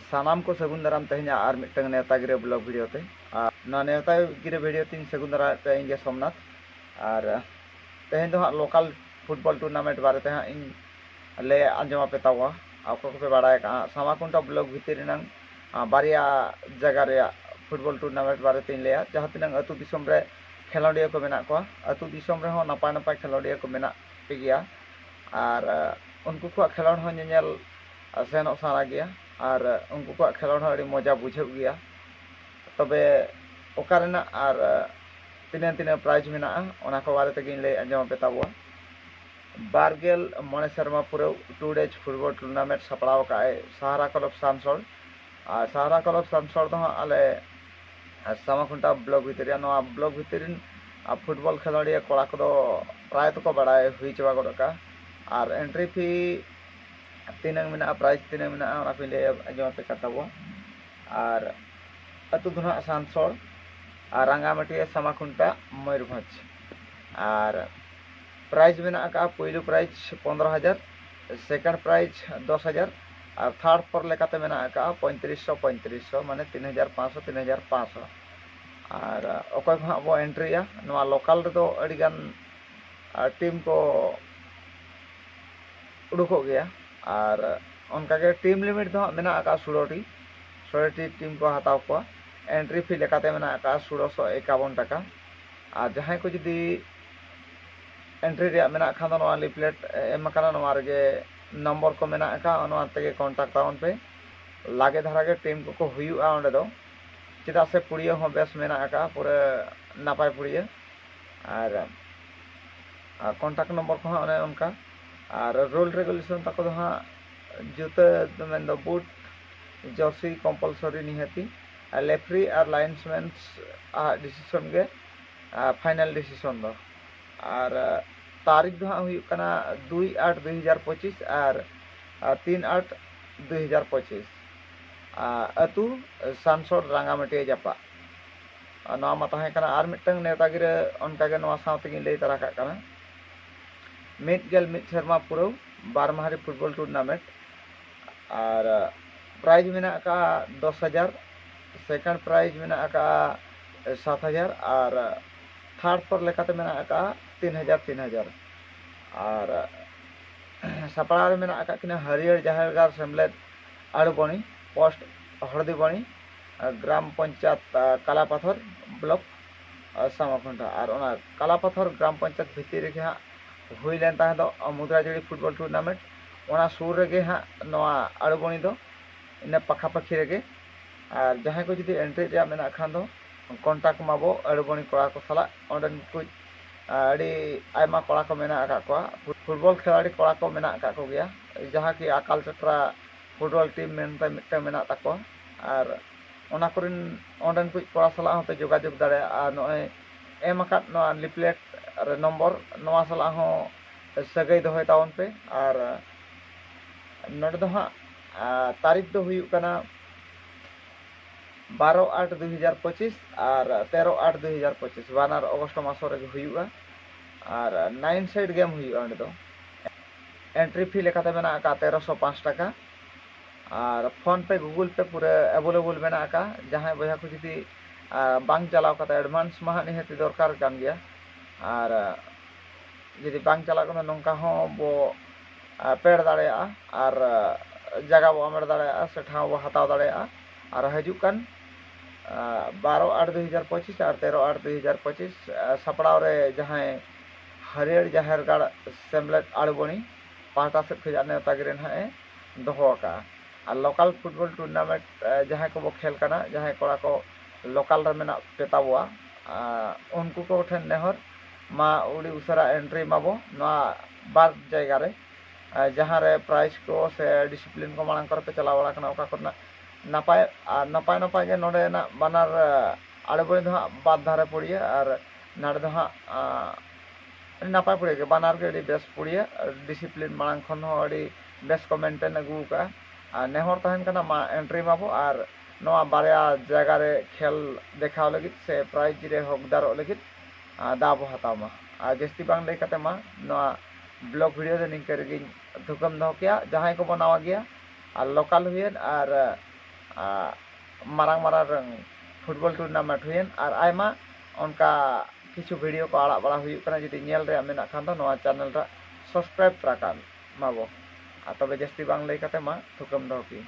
ᱥᱟᱱᱟᱢ ᱠᱚ ᱥᱟᱹᱜᱩᱱ ᱫᱟᱨᱟᱢ ᱛᱮᱦᱮᱧᱟᱜ ᱟᱨ ᱢᱤᱫᱴᱟᱝ ᱱᱮᱣᱛᱟ ᱜᱤᱨᱟᱹ ᱵᱞᱚᱜ ᱵᱷᱤᱰᱤᱭᱳ ᱛᱮ ᱟᱨ ᱱᱚᱣᱟ ᱱᱮᱣᱛᱟ ᱜᱤᱨᱟᱹ ᱵᱷᱤᱰᱤᱭᱳ ᱛᱮᱧ ᱥᱟᱹᱜᱩᱱ ᱫᱟᱨᱟᱢᱮᱫ ᱯᱮᱭᱟ ᱤᱧ ᱜᱮ ᱥᱚᱢᱱᱟᱛᱷ ᱟᱨ ᱛᱮᱦᱮᱧ ᱫᱚ ᱦᱟᱸᱜ ᱞᱳᱠᱟᱞ ᱯᱷᱩᱴᱵᱚᱞ ᱴᱩᱨᱱᱟᱢᱮᱱᱴ ᱵᱟᱨᱮᱛᱮ ᱦᱟᱸᱜ ᱤᱧ ᱞᱟᱹᱭ ᱟᱸᱡᱚᱢ ᱟᱯᱮ ᱛᱟᱵᱚᱣᱟ ᱚᱠᱚᱭ ᱠᱚᱯᱮ ᱵᱟᱲᱟᱭ ᱠᱟᱜᱼᱟ ᱥᱟᱢᱟᱠᱩᱱᱰᱟ ᱵᱞᱚᱠ ᱵᱷᱤᱛᱤᱨ ᱨᱮᱱᱟᱝ ᱵᱟᱨᱭᱟ ᱡᱟᱭᱜᱟ ᱨᱮᱭᱟᱜ ᱯᱷᱩᱴᱵᱚᱞ ᱴᱩᱨᱱᱟᱢᱮᱱᱴ ᱵᱟᱨᱮᱛᱮᱧ ᱞᱟᱹᱭᱟ ᱡᱟᱦᱟᱸ ᱛᱤᱱᱟᱹᱝ ᱟᱹᱛᱩ ᱫᱤᱥᱚᱢ ᱨᱮ ᱠᱷᱮᱞᱳᱰᱤᱭᱟᱹ ᱠᱚ ᱢᱮᱱᱟᱜ ᱠᱚᱣᱟ ᱟᱹᱛᱩ ᱫᱤᱥᱚᱢ ᱨᱮᱦᱚᱸ ᱱᱟᱯᱟᱭ ᱱᱟᱯᱟᱭ ᱠᱷᱮᱞᱳᱰᱤᱭᱟᱹ ᱠᱚ ᱢᱮᱱᱟᱜ ᱯᱮ ᱜᱮᱭᱟ ᱟᱨ ᱩᱱᱠᱩ ᱠᱚᱣᱟᱜ ᱠᱷᱮᱞᱳᱰ ᱦᱚᱸ ᱧᱮᱧᱮᱞ ᱥᱮᱱᱚᱜ ᱥᱟᱱᱟ ᱜᱮᱭᱟ ᱟᱨ ᱩᱱᱠᱩ ᱠᱚᱣᱟᱜ ᱠᱷᱮᱞᱳᱰ ᱦᱚᱸ ᱟᱹᱰᱤ ᱢᱚᱡᱟ ᱵᱩᱡᱷᱟᱹᱜ ᱜᱮᱭᱟ ᱛᱚᱵᱮ ᱚᱠᱟ ᱨᱮᱱᱟᱜ ᱟᱨ ᱛᱤᱱᱟᱹᱜ ᱛᱤᱱᱟᱹᱜ ᱯᱨᱟᱭᱤᱡᱽ ᱢᱮᱱᱟᱜᱼᱟ ᱚᱱᱟ ᱠᱚ ᱵᱟᱨᱮ ᱛᱮᱜᱮᱧ ᱞᱟᱹᱭ ᱟᱸᱡᱚᱢ ᱟᱯᱮ ᱛᱟᱵᱚᱣᱟ ᱵᱟᱨ ᱜᱮᱞ ᱢᱚᱬᱮ ᱥᱮᱨᱢᱟ ᱯᱩᱨᱟᱹᱣ ᱴᱩ ᱰᱮᱡᱽ ᱯᱷᱩᱴᱵᱚᱞ ᱴᱩᱨᱱᱟᱢᱮᱱᱴ ᱥᱟᱯᱲᱟᱣ ᱟᱠᱟᱫ ᱟᱭ ᱥᱟᱦᱟᱨᱟ ᱠᱞᱚᱵᱽ ᱥᱟᱱᱥᱚᱲ ᱟᱨ ᱥᱟᱦᱟᱨᱟ ᱠᱞᱚᱵᱽ ᱥᱟᱱᱥᱚᱲ ᱫᱚ ᱦᱟᱸᱜ ᱟᱞᱮ ᱥᱟᱢᱟᱠᱷᱩᱱᱴᱟ ᱵᱞᱚᱠ ᱵᱷᱤᱛᱤᱨ ᱨᱮᱭᱟᱜ ᱱᱚᱣᱟ ᱵᱞᱚᱠ ᱵᱷᱤᱛᱤᱨ ᱨᱮᱱ ᱯᱷᱩᱴᱵᱚᱞ ᱠᱷᱮᱞᱳᱰᱤᱭᱟᱹ ᱠᱚᱲᱟ ᱠᱚᱫᱚ ᱯᱨᱟᱭ ᱛᱮᱠᱚ ᱵᱟᱲᱟᱭ ᱦᱩᱭ ᱪᱟᱵᱟ ᱜᱚᱫ ᱟᱠᱟᱫᱼᱟ ᱟᱨ ᱮᱱᱴᱨᱤ ᱯᱷᱤ ᱛᱤᱱᱟᱹᱝ ᱢᱮᱱᱟᱜᱼᱟ ᱯᱨᱟᱭᱤᱡᱽ ᱛᱤᱱᱟᱹᱝ ᱢᱮᱱᱟᱜᱼᱟ ᱚᱱᱟ ᱠᱚᱧ ᱞᱟᱹᱭ ᱟᱸᱡᱚᱢ ᱟᱯᱮ ᱠᱟᱱ ᱛᱟᱵᱚᱣᱟ ᱟᱨ ᱟᱹᱛᱩ ᱫᱚ ᱱᱟᱦᱟᱜ ᱥᱟᱱᱥᱚᱲ ᱟᱨ ᱨᱟᱸᱜᱟᱢᱟᱹᱴᱭᱟᱹ ᱥᱟᱢᱟᱠᱷᱩᱱᱴᱟ ᱢᱚᱭᱩᱨᱵᱷᱚᱸᱡᱽ ᱟᱨ ᱯᱨᱟᱭᱤᱡᱽ ᱢᱮᱱᱟᱜ ᱟᱠᱟᱫᱼᱟ ᱯᱳᱭᱞᱳ ᱯᱨᱟᱭᱤᱡᱽ ᱯᱚᱱᱨᱚ ᱦᱟᱡᱟᱨ ᱥᱮᱠᱮᱱᱰ ᱯᱨᱟᱭᱤᱡᱽ ᱫᱚᱥ ᱦᱟᱡᱟᱨ ᱟᱨ ᱛᱷᱟᱨᱰ ᱯᱷᱳᱨ ᱞᱮᱠᱟᱛᱮ ᱢᱮᱱᱟᱜ ᱟᱠᱟᱫᱼᱟ ᱯᱚᱸᱭᱛᱨᱤᱥ ᱥᱚ ᱯᱚᱸᱭᱛᱨᱤᱥ ᱥᱚ ᱢᱟᱱᱮ ᱛᱤᱱ ᱦᱟᱡᱟᱨ ᱯᱟᱸᱪᱥᱚ ᱛᱤᱱ ᱦᱟᱡᱟᱨ ᱯᱟᱸᱪᱥᱚ ᱟᱨ ᱚᱠᱚᱭ ᱠᱚ ᱦᱟᱸᱜ ᱵᱚ ᱮᱱᱴᱨᱤᱜᱼᱟ ᱱᱚᱣᱟ ᱞᱳᱠᱟᱞ ᱨᱮᱫᱚ ᱟᱹᱰᱤᱜᱟᱱ ᱴᱤᱢ ᱠᱚ ᱩᱰᱩᱠᱚᱜ ᱜᱮᱭᱟ ᱟᱨ ᱚᱱᱠᱟ ᱜᱮ ᱴᱤᱢ ᱞᱤᱢᱤᱴ ᱫᱚ ᱦᱟᱸᱜ ᱢᱮᱱᱟᱜ ᱟᱠᱟᱫᱼᱟ ᱥᱩᱲᱚ ᱴᱤ ᱥᱩᱲᱚ ᱴᱤ ᱴᱤᱢ ᱠᱚ ᱦᱟᱛᱟᱣ ᱠᱚᱣᱟ ᱮᱱᱴᱨᱤ ᱯᱷᱤ ᱞᱮᱠᱟᱛᱮ ᱢᱮᱱᱟᱜ ᱟᱠᱟᱫᱼᱟ ᱥᱩᱲᱚ ᱥᱚ ᱮᱠᱟᱵᱚᱱ ᱴᱟᱠᱟ ᱟᱨ ᱡᱟᱦᱟᱸᱭ ᱠᱚ ᱡᱩᱫᱤ ᱮᱱᱴᱨᱤ ᱨᱮᱭᱟᱜ ᱢᱮᱱᱟᱜ ᱠᱷᱟᱱ ᱫᱚ ᱱᱚᱣᱟ ᱞᱤᱯᱷᱞᱮᱴ ᱮᱢ ᱟᱠᱟᱱᱟ ᱱᱚᱣᱟ ᱨᱮᱜᱮ ᱱᱚᱢᱵᱚᱨ ᱠᱚ ᱢᱮᱱᱟᱜ ᱟᱠᱟᱫᱼᱟ ᱱᱚᱣᱟ ᱛᱮᱜᱮ ᱠᱚᱱᱴᱟᱠᱴ ᱛᱟᱵᱚᱱ ᱯᱮ ᱞᱟᱜᱮ ᱫᱷᱟᱨᱟ ᱜᱮ ᱴᱤᱢ ᱠᱚᱠᱚ ᱦᱩᱭᱩᱜᱼᱟ ᱚᱸᱰᱮ ᱫᱚ ᱪᱮᱫᱟᱜ ᱥᱮ ᱯᱩᱲᱤᱭᱟᱹ ᱦᱚᱸ ᱵᱮᱥ ᱢᱮᱱᱟᱜ ᱟᱠᱟᱫᱼᱟ ᱯᱩᱨᱟᱹ ᱱᱟᱯᱟᱭ ᱯᱩᱲᱤᱭᱟᱹ ᱟᱨ ᱠᱚᱱᱴᱟᱠᱴ ᱱᱚᱢᱵᱚᱨ ᱠᱚᱦᱚᱸ ᱚᱱᱮ ᱚᱱᱠᱟ ᱟᱨ ᱨᱩᱞ ᱨᱮᱜᱩᱞᱮᱥᱚᱱ ᱛᱟᱠᱚ ᱫᱚ ᱦᱟᱸᱜ ᱡᱩᱛᱟᱹ ᱫᱚ ᱢᱮᱱ ᱫᱚ ᱵᱩᱴ ᱡᱟᱹᱨᱥᱤ ᱠᱚᱢᱯᱟᱞᱥᱚᱨᱤ ᱱᱤᱦᱟᱹᱛᱤ ᱟᱨ ᱞᱮᱯᱷᱨᱤ ᱟᱨ ᱞᱟᱭᱤᱱᱥ ᱢᱮᱱᱥ ᱟᱜ ᱰᱤᱥᱤᱥᱚᱱ ᱜᱮ ᱯᱷᱟᱭᱱᱟᱞ ᱰᱤᱥᱤᱥᱚᱱ ᱫᱚ ᱟᱨ ᱛᱟᱹᱨᱤᱠᱷ ᱫᱚ ᱦᱟᱸᱜ ᱦᱩᱭᱩᱜ ᱠᱟᱱᱟ ᱫᱩᱭ ᱟᱴ ᱫᱩᱭ ᱦᱟᱡᱟᱨ ᱯᱚᱸᱪᱤᱥ ᱟᱨ ᱛᱤᱱ ᱟᱴ ᱫᱩᱭ ᱦᱟᱡᱟᱨ ᱯᱚᱸᱪᱤᱥ ᱟᱹᱛᱩ ᱥᱟᱱᱥᱚᱲ ᱨᱟᱝᱜᱟᱢᱟᱹᱴᱤᱭᱟᱹ ᱡᱟᱯᱟᱜ ᱱᱚᱣᱟ ᱢᱟ ᱛᱟᱦᱮᱸ ᱠᱟᱱᱟ ᱟᱨ ᱢᱤᱫᱴᱟᱝ ᱱᱮᱣᱛᱟ ᱜᱤᱨᱟᱹ ᱚᱱᱠᱟᱜᱮ ᱱᱚᱣᱟ ᱥᱟᱶ ᱛᱮᱜᱤᱧ ᱞᱟᱹᱭ ᱛᱟᱨᱟ ᱠᱟᱜ ᱠᱟᱱᱟ ᱢᱤᱫ ᱜᱮᱞ ᱢᱤᱫ ᱥᱮᱨᱢᱟ ᱯᱩᱨᱟᱹᱣ ᱵᱟᱨ ᱢᱟᱦᱟᱨᱤ ᱯᱷᱩᱴᱵᱚᱞ ᱴᱩᱨᱱᱟᱢᱮᱱᱴ ᱟᱨ ᱯᱨᱟᱭᱤᱡᱽ ᱢᱮᱱᱟᱜ ᱟᱠᱟᱫᱼᱟ ᱫᱚᱥ ᱦᱟᱡᱟᱨ ᱥᱮᱠᱮᱱᱰ ᱯᱨᱟᱭᱤᱡᱽ ᱢᱮᱱᱟᱜ ᱟᱠᱟᱫᱼᱟ ᱥᱟᱛ ᱦᱟᱡᱟᱨ ᱟᱨ ᱛᱷᱟᱨᱰ ᱯᱚᱨ ᱞᱮᱠᱟᱛᱮ ᱢᱮᱱᱟᱜ ᱟᱠᱟᱫᱼᱟ ᱛᱤᱱ ᱦᱟᱡᱟᱨ ᱛᱤᱱ ᱦᱟᱡᱟᱨ ᱟᱨ ᱥᱟᱯᱲᱟᱣ ᱨᱮ ᱢᱮᱱᱟᱜ ᱟᱠᱟᱫ ᱠᱤᱱᱟ ᱦᱟᱹᱨᱭᱟᱹᱲ ᱡᱟᱦᱮᱨ ᱜᱟᱲ ᱥᱮᱢᱞᱮᱫ ᱟᱲᱩᱵᱟᱹᱬᱤ ᱯᱳᱥᱴ ᱦᱚᱲᱫᱤᱵᱟᱹᱬᱤ ᱜᱨᱟᱢ ᱯᱚᱧᱪᱟᱭᱮᱛ ᱠᱟᱞᱟᱯᱟᱛᱷᱚᱨ ᱵᱞᱚᱠ ᱥᱟᱢᱟ ᱠᱷᱩᱱᱴᱟ ᱟᱨ ᱚᱱᱟ ᱠᱟᱞᱟ ᱯᱟᱛᱷᱚᱨ ᱜᱨᱟᱢ ᱯᱚᱧᱪᱟᱭᱮᱛ ᱵᱷᱤᱛᱤᱨ ᱨᱮᱜᱮ ᱦᱟᱸᱜ ᱦᱩᱭ ᱞᱮᱱ ᱛᱟᱦᱮᱸ ᱫᱚ ᱢᱩᱫᱽᱨᱟ ᱡᱟᱹᱲᱤ ᱯᱷᱩᱴᱵᱚᱞ ᱴᱩᱨᱱᱟᱢᱮᱱᱴ ᱚᱱᱟ ᱥᱩᱨ ᱨᱮᱜᱮ ᱦᱟᱸᱜ ᱱᱚᱣᱟ ᱟᱲᱩᱵᱚᱱᱤ ᱫᱚ ᱤᱱᱟᱹ ᱯᱟᱠᱷᱟ ᱯᱟᱹᱠᱷᱤ ᱨᱮᱜᱮ ᱟᱨ ᱡᱟᱦᱟᱸᱭ ᱠᱚ ᱡᱩᱫᱤ ᱮᱱᱴᱨᱤ ᱨᱮᱭᱟᱜ ᱢᱮᱱᱟᱜ ᱠᱷᱟᱱ ᱫᱚ ᱠᱚᱱᱴᱟᱠᱴ ᱢᱟᱵᱚ ᱟᱲᱩᱵᱚᱱᱤ ᱠᱚᱲᱟ ᱠᱚ ᱥᱟᱞᱟᱜ ᱚᱸᱰᱮᱱ ᱠᱚ ᱟᱹᱰᱤ ᱟᱭᱢᱟ ᱠᱚᱲᱟ ᱠᱚ ᱢᱮᱱᱟᱜ ᱟᱠᱟᱫ ᱠᱚᱣᱟ ᱯᱷᱩᱴᱵᱚᱞ ᱠᱷᱮᱞᱟᱲᱤ ᱠᱚᱲᱟ ᱠᱚ ᱢᱮᱱᱟᱜ ᱟᱠᱟᱫ ᱠᱚᱜᱮᱭᱟ ᱡᱟᱦᱟᱸ ᱠᱤ ᱟᱠᱟᱞ ᱪᱚᱠᱨᱟ ᱯᱷᱩᱴᱵᱚᱞ ᱴᱤᱢ ᱢᱮᱱᱛᱮ ᱢᱤᱫᱴᱟᱹᱝ ᱢᱮᱱᱟᱜ ᱛᱟᱠᱚᱣᱟ ᱟᱨ ᱚᱱᱟ ᱠᱚᱨᱮᱱ ᱚᱸᱰᱮᱱ ᱠᱚ ᱠᱚᱲᱟ ᱥᱟᱞᱟᱜ ᱦᱚᱸᱯᱮ ᱡᱳᱜᱟᱡᱳᱜᱽ ᱫᱟᱲᱮᱭᱟᱜᱼᱟ ᱟᱨ ᱱᱚᱜᱼᱚᱭ ᱮᱢ ᱟᱠᱟᱫ ᱱᱚᱣᱟ ᱞᱤᱯᱷᱞᱮᱴ ᱨᱮ ᱱᱚᱢᱵᱚᱨ ᱱᱚᱣᱟ ᱥᱟᱞᱟᱜ ᱦᱚᱸ ᱥᱟᱹᱜᱟᱹᱭ ᱫᱚᱦᱚᱭ ᱛᱟᱵᱚᱱ ᱯᱮ ᱟᱨ ᱱᱚᱰᱮ ᱫᱚ ᱦᱟᱸᱜ ᱛᱟᱹᱨᱤᱠᱷ ᱫᱚ ᱦᱩᱭᱩᱜ ᱠᱟᱱᱟ ᱵᱟᱨᱚ ᱟᱴ ᱫᱩ ᱦᱟᱡᱟᱨ ᱯᱚᱸᱪᱤᱥ ᱟᱨ ᱛᱮᱨᱚ ᱟᱴ ᱫᱩ ᱦᱟᱡᱟᱨ ᱯᱚᱸᱪᱤᱥ ᱵᱟᱱᱟᱨ ᱚᱜᱚᱥᱴ ᱢᱟᱥᱚ ᱨᱮᱜᱮ ᱦᱩᱭᱩᱜᱼᱟ ᱟᱨ ᱱᱟᱭᱤᱱ ᱥᱟᱭᱤᱰ ᱜᱮᱢ ᱦᱩᱭᱩᱜᱼᱟ ᱚᱸᱰᱮ ᱫᱚ ᱮᱱᱴᱨᱤ ᱯᱷᱤ ᱞᱮᱠᱟᱛᱮ ᱢᱮᱱᱟᱜ ᱟᱠᱟᱫᱼᱟ ᱛᱮᱨᱚᱥᱚ ᱯᱟᱸᱪ ᱴᱟᱠᱟ ᱟᱨ ᱯᱷᱚᱱ ᱯᱮ ᱜᱩᱜᱩᱞ ᱯᱮ ᱯᱩᱨᱟᱹ ᱮᱵᱚᱞᱮᱵᱚᱞ ᱢᱮᱱᱟᱜ ᱟᱠᱟᱫᱼᱟ ᱡᱟᱦᱟᱸᱭ ᱵᱚᱭᱦᱟ ᱠᱚ ᱡᱩᱫᱤ ᱵᱟᱝ ᱪᱟᱞᱟᱣ ᱠᱟᱛᱮ ᱮᱰᱵᱷᱟᱱᱥ ᱢᱟ ᱦᱟᱸᱜ ᱱᱤᱦᱟᱹᱛ ᱫᱚᱨᱠᱟᱨ ᱠᱟᱱ ᱜᱮᱭᱟ ᱟᱨ ᱡᱩᱫᱤ ᱵᱟᱝ ᱪᱟᱞᱟᱜ ᱠᱟᱱᱟ ᱱᱚᱝᱠᱟ ᱦᱚᱸ ᱵᱚ ᱯᱮᱰ ᱫᱟᱲᱮᱭᱟᱜᱼᱟ ᱟᱨ ᱡᱟᱭᱜᱟ ᱵᱚ ᱦᱟᱢᱮᱴ ᱫᱟᱲᱮᱭᱟᱜᱼᱟ ᱥᱮ ᱴᱷᱟᱶ ᱵᱚ ᱦᱟᱛᱟᱣ ᱫᱟᱲᱮᱭᱟᱜᱼᱟ ᱟᱨ ᱦᱤᱡᱩᱜ ᱠᱟᱱ ᱵᱟᱨᱚ ᱟᱴ ᱫᱩ ᱦᱟᱡᱟᱨ ᱯᱚᱸᱪᱤᱥ ᱟᱨ ᱛᱮᱨᱚ ᱟᱴ ᱫᱩ ᱦᱟᱡᱟᱨ ᱯᱚᱸᱪᱤᱥ ᱥᱟᱯᱲᱟᱣ ᱨᱮ ᱡᱟᱦᱟᱸᱭ ᱦᱟᱹᱨᱭᱟᱹᱲ ᱡᱟᱦᱮᱨ ᱜᱟᱲ ᱥᱮᱢᱞᱮᱫ ᱟᱲᱵᱚᱱᱤ ᱯᱟᱦᱴᱟ ᱥᱮᱫ ᱠᱷᱚᱱᱟᱜ ᱱᱮᱶᱛᱟ ᱜᱤᱨᱟᱹ ᱦᱟᱸᱜ ᱮ ᱫᱚᱦᱚ ᱟᱠᱟᱫᱼᱟ ᱟᱨ ᱞᱚᱠᱟᱞ ᱯᱷᱩᱴᱵᱚᱞ ᱴᱩᱨᱱᱟᱢᱮᱱᱴ ᱡᱟᱦᱟᱸᱭ ᱠᱚᱵᱚ ᱠᱷᱮᱞ ᱠᱟᱱᱟ ᱡᱟᱦᱟᱸᱭ ᱠᱚᱲᱟ ᱠᱚ ᱞᱚᱠᱟᱞ ᱨᱮ ᱢᱮᱱᱟᱜ ᱯᱮᱛᱟ ᱵᱚᱣᱟ ᱩᱱᱠᱩ ᱠᱚ ᱴᱷᱮᱱ ᱱᱮᱦᱚᱨ ᱢᱟ ᱟᱹᱰᱤ ᱩᱥᱟᱹᱨᱟ ᱮᱱᱴᱨᱤ ᱢᱟᱵᱚ ᱱᱚᱣᱟ ᱵᱟᱨ ᱡᱟᱭᱜᱟ ᱨᱮ ᱡᱟᱦᱟᱸ ᱨᱮ ᱯᱨᱟᱭᱤᱡᱽ ᱠᱚ ᱥᱮ ᱰᱤᱥᱤᱯᱞᱤᱱ ᱠᱚ ᱢᱟᱲᱟᱝ ᱠᱚᱨᱮ ᱯᱮ ᱪᱟᱞᱟᱣ ᱵᱟᱲᱟ ᱠᱟᱱᱟ ᱚᱠᱟ ᱠᱚᱨᱮᱱᱟᱜ ᱱᱟᱯᱟᱭ ᱟᱨ ᱱᱟᱯᱟᱭ ᱱᱟᱯᱟᱭ ᱜᱮ ᱱᱚᱰᱮᱱᱟᱜ ᱵᱟᱱᱟᱨ ᱟᱲᱮ ᱵᱟᱲᱮ ᱫᱚ ᱦᱟᱸᱜ ᱵᱟᱨ ᱫᱷᱟᱨᱮ ᱯᱩᱲᱭᱟᱹ ᱟᱨ ᱱᱚᱰᱮ ᱫᱚ ᱦᱟᱸᱜ ᱟᱹᱰᱤ ᱱᱟᱯᱟᱭ ᱯᱩᱲᱭᱟᱹ ᱜᱮ ᱵᱟᱱᱟᱨ ᱜᱮ ᱟᱹᱰᱤ ᱵᱮᱥ ᱯᱩᱲᱭᱟᱹ ᱰᱤᱥᱤᱯᱞᱤᱱ ᱢᱟᱲᱟᱝ ᱠᱷᱚᱱ ᱦᱚᱸ ᱟᱹᱰᱤ ᱵᱮᱥ ᱠᱚ ᱢᱮᱱᱴᱮᱱ ᱟᱹᱜᱩ ᱟᱠᱟᱫᱼᱟ ᱟᱨ ᱱᱮᱦᱚᱨ ᱛᱟᱦᱮᱱ ᱠᱟᱱᱟ ᱢᱟ ᱮᱱᱴᱨᱤ ᱢᱟᱵᱚ ᱟᱨ ᱱᱚᱣᱟ ᱵᱟᱨᱭᱟ ᱡᱟᱭᱜᱟ ᱨᱮ ᱠᱷᱮᱞ ᱫᱮᱠᱷᱟᱣ ᱞᱟᱹᱜᱤᱫ ᱥᱮ ᱯᱨᱟᱭᱤᱡᱽ ᱨᱮ ᱦᱚᱠᱫᱟᱨᱚᱜ ᱞᱟᱹᱜᱤᱫ ᱫᱟᱣ ᱵᱚ ᱦᱟᱛᱟᱣ ᱢᱟ ᱟᱨ ᱡᱟᱹᱥᱛᱤ ᱵᱟᱝ ᱞᱟᱹᱭ ᱠᱟᱛᱮᱫ ᱢᱟ ᱱᱚᱣᱟ ᱵᱞᱚᱜᱽ ᱵᱷᱤᱰᱤᱭᱳ ᱫᱚ ᱱᱤᱝᱠᱟᱹ ᱨᱮᱜᱮᱧ ᱛᱷᱩᱠᱟᱹᱢ ᱫᱚᱦᱚ ᱠᱮᱭᱟ ᱡᱟᱦᱟᱸᱭ ᱠᱚᱵᱚ ᱱᱟᱣᱟ ᱜᱮᱭᱟ ᱟᱨ ᱞᱳᱠᱟᱞ ᱦᱩᱭᱮᱱ ᱟᱨ ᱢᱟᱨᱟᱝ ᱢᱟᱨᱟᱝ ᱯᱷᱩᱴᱵᱚᱞ ᱴᱩᱨᱱᱟᱢᱮᱱᱴ ᱦᱩᱭᱮᱱ ᱟᱨ ᱟᱭᱢᱟ ᱚᱱᱠᱟ ᱠᱤᱪᱷᱩ ᱵᱷᱤᱰᱤᱭᱳ ᱠᱚ ᱟᱲᱟᱜ ᱵᱟᱲᱟ ᱦᱩᱭᱩᱜ ᱠᱟᱱᱟ ᱡᱩᱫᱤ ᱧᱮᱞ ᱨᱮᱭᱟᱜ ᱢᱮᱱᱟᱜ ᱠᱷᱟᱱ ᱫᱚ ᱱᱚᱣᱟ ᱪᱮᱱᱮᱞ ᱴᱟᱜ ᱥᱟᱵᱥᱠᱨᱟᱭᱤᱵᱽ ᱛᱚᱨᱟ ᱠᱟᱜ ᱢᱟᱵᱚ ᱟᱨ ᱛᱚᱵᱮ ᱡᱟᱹᱥᱛᱤ ᱵᱟᱝ ᱞᱟᱹᱭ ᱠᱟᱛᱮ ᱢᱟ ᱛᱷᱩᱠᱟᱹᱢ ᱫᱚᱦᱚ ᱠᱮᱜ ᱟᱹᱧ᱾